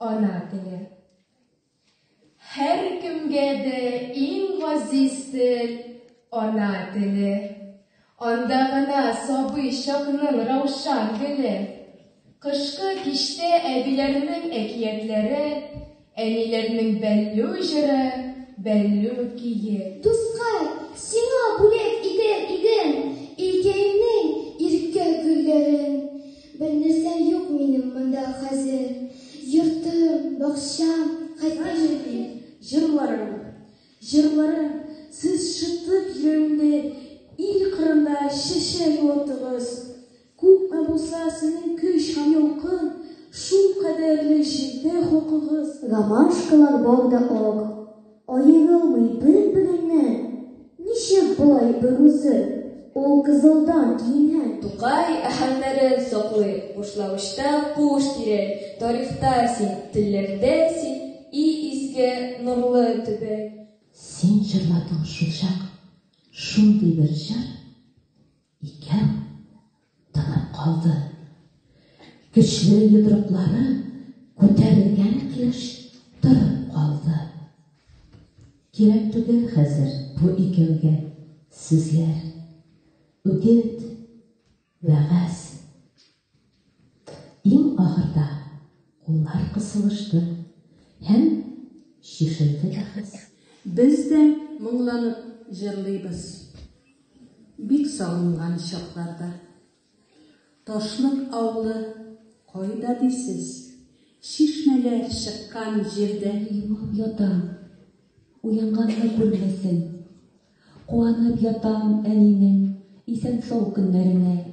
Ана теле. Һәркемгә дә иң газиз тел ана теле. Анда гына сабый чакның раушан гөле. Кышкы киштә әбиләрнең әкиятләре, әниләрнең бәллү җыры, бәллү кие. Дуска, сиңа бүләк итәр идем, илкәемнең иркә гөлләрен. Бер нәрсә юк минем монда хәзер, Йортым, бакчам, хәтта җирем. Җырларым, җырларым, сез шытып йөрәгемне, Ил кырында чәчәк юатыгыз. Күпме булса сезнең көч һәм ялкын, Шул кадәрле җирдә хокукыгыз. Гамашкалар бау да ак. Аерылмый бер-береннән, ничек болай берүзе, ул кызылдан киенгән. Тукай әһәңнәрен саклый, бушлавычта куыш тирәй, тарихта син, телләрдә син, и изге, нурлы төбәк. Син җырладың шулчак шундый бер җыр. Икән, тынып калды. Көчле йодрыклары күтәрелгән килеш торып калды. Кирәк түгел хәзер бу икәүгә сүзләр. Үгет, вәгазь, Иң ахырда куллар кысылышты һәм чишелде бәхәс. Без дә моңланып җырлыйбыз. Бик сагынган чакларда. Ташлык авылы кайда дисез? Чишмәләр чыккан җирдә. Елап ятам, уянганны күрмәсен. Куанып ятам әнинең исән-сау көннәренә.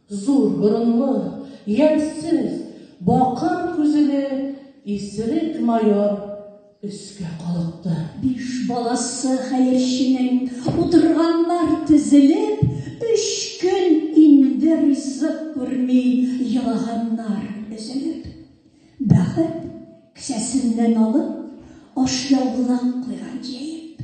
Зур борынлы, ямьсез, бакыр күзеле исерек майор өскә калыкты. Биш баласы хәерченең, утырганнар тезелеп, өч көн инде ризык күрми елаганнар өзелеп. Бәхет, кесәсеннән алып, ашъяулык куйган җәеп.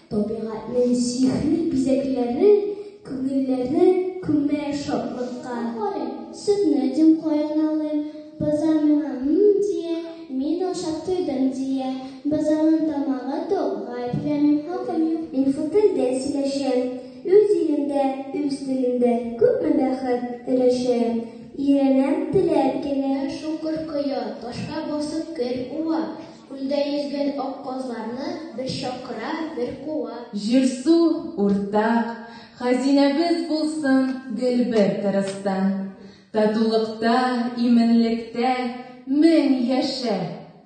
Табигатьнең сихри бизәкләре күңелләрне күмә шатлыкка. Карыйм, сөтне дим каеналыйм, боза миңа м дия, мин ашап туйдым дия. Бозаның тамагы тук, гаепләмим, хакым юк. Мин шул телдә сөйләшәм, үз илемдә, үз телемдә күпме бәхет өләшәм. Өйрәнәм теләп кенә. Шуңгыр коя, ташка басып кер уа, Күлдә йөзгән ак казларны бер чакыра, бер куа. Җир-су, уртак, хәзинәбез булсын гел бер тырыста. Татулыкта, именлектә мең яшә,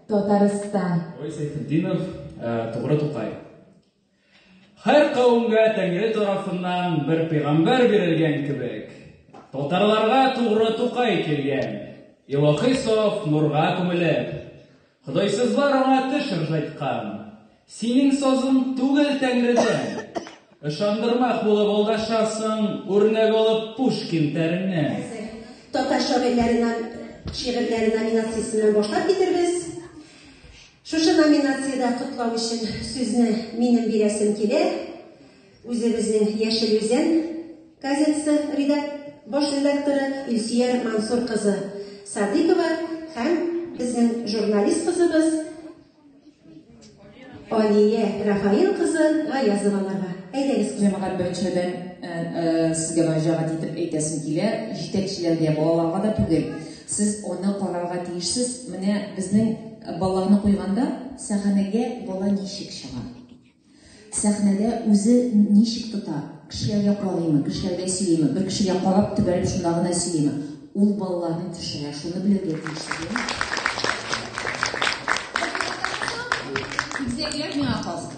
Татарстан! Гәрәй Сәйфетдинов, Тугры Тукай. Һәр кавемгә Тәңре тарафыннан бер пигамбәр бирелгән кебек, татарларга тугры Тукай килгән, илаһи саф нурга күмелеп. Ходайсызлар аңа теш ыржайткан. Синең сазың түгел Тәңредән! Ышандырмак булып алдашасың, үрнәк алып Пушкин тәреннән. Татар шагыйрьләреннән шигырьләре номинациясеннән башлап китербез. Шушы номинациядә котлау өчен сүзне минем бирәсем килә. Үзебезнең Яшел Үзән газетасы редак баш редакторы Илсөяр Мансур кызы Садыкова һәм безнең журналист кызыбыз Алия Рафаил кызы Гаязованарга. Әйдәгез, җәмәгать беренчеледән э, э, сезгә мөрәҗәгать итеп әйтәсем килә, җитәкчеләргә, балаларга да түгел. Сез аны карарга тиешсез. Менә безнең Баланы куйганда, сәхнәгә бала ничек чыга? Сәхнәдә үзе ничек тота? Кешеләргә карыймы, кешеләргә сөйлиме, бер кешегә карап төбәлеп шунда гына сөйлиме? Ул балаларны төшерә, шуны белергә тиешсез. Үзәкләр миңа калсын.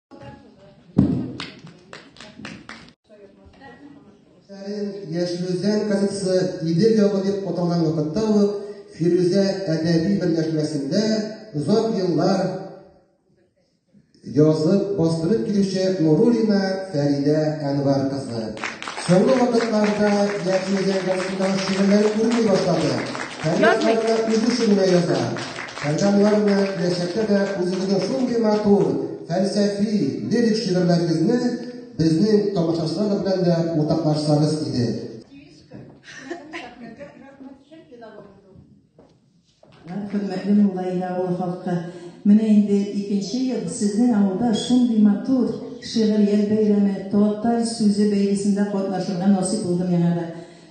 Яшьлүзән газетасы Идел явы дип аталган вакытта ул Фирүзә әдәби берләшмәсендә озак еллар язып бастырып килүче Нурулина Фәридә Әнвар кызы. Соңгы вакытларда Яшьлүзән газетасында шигырьләр күренми башлады. Фәридә үзе шигырь яза. Сәлдәнлар белән киләчәктә дә үзегезнең шундый матур, фәлсәфи, лирик шигырьләрегезне безнең тамашачылар белән дә уртаклашсагыз иде. Хөрмәтле Муллаиле авылы халкы, менә инде икенче ел сезнең авылда шундый матур Шигърият бәйрәме, Татар сүзе бәйгесендә катнашырга насыйп булды миңа да.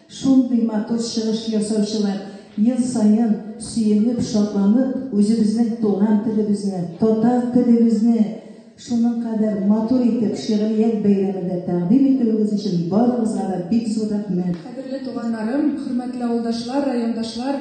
Шундый матур чыгыш ясаучылар ел саен сөенеп, шатланып, үзебезнең туган телебезне, татар телебезне шуның кадәр матур итеп шигърият бәйрәмендә тәкъдим итүегез өчен барыгызга да бик зур рәхмәт. Кадерле туганнарым, хөрмәтле авылдашлар, райондашлар!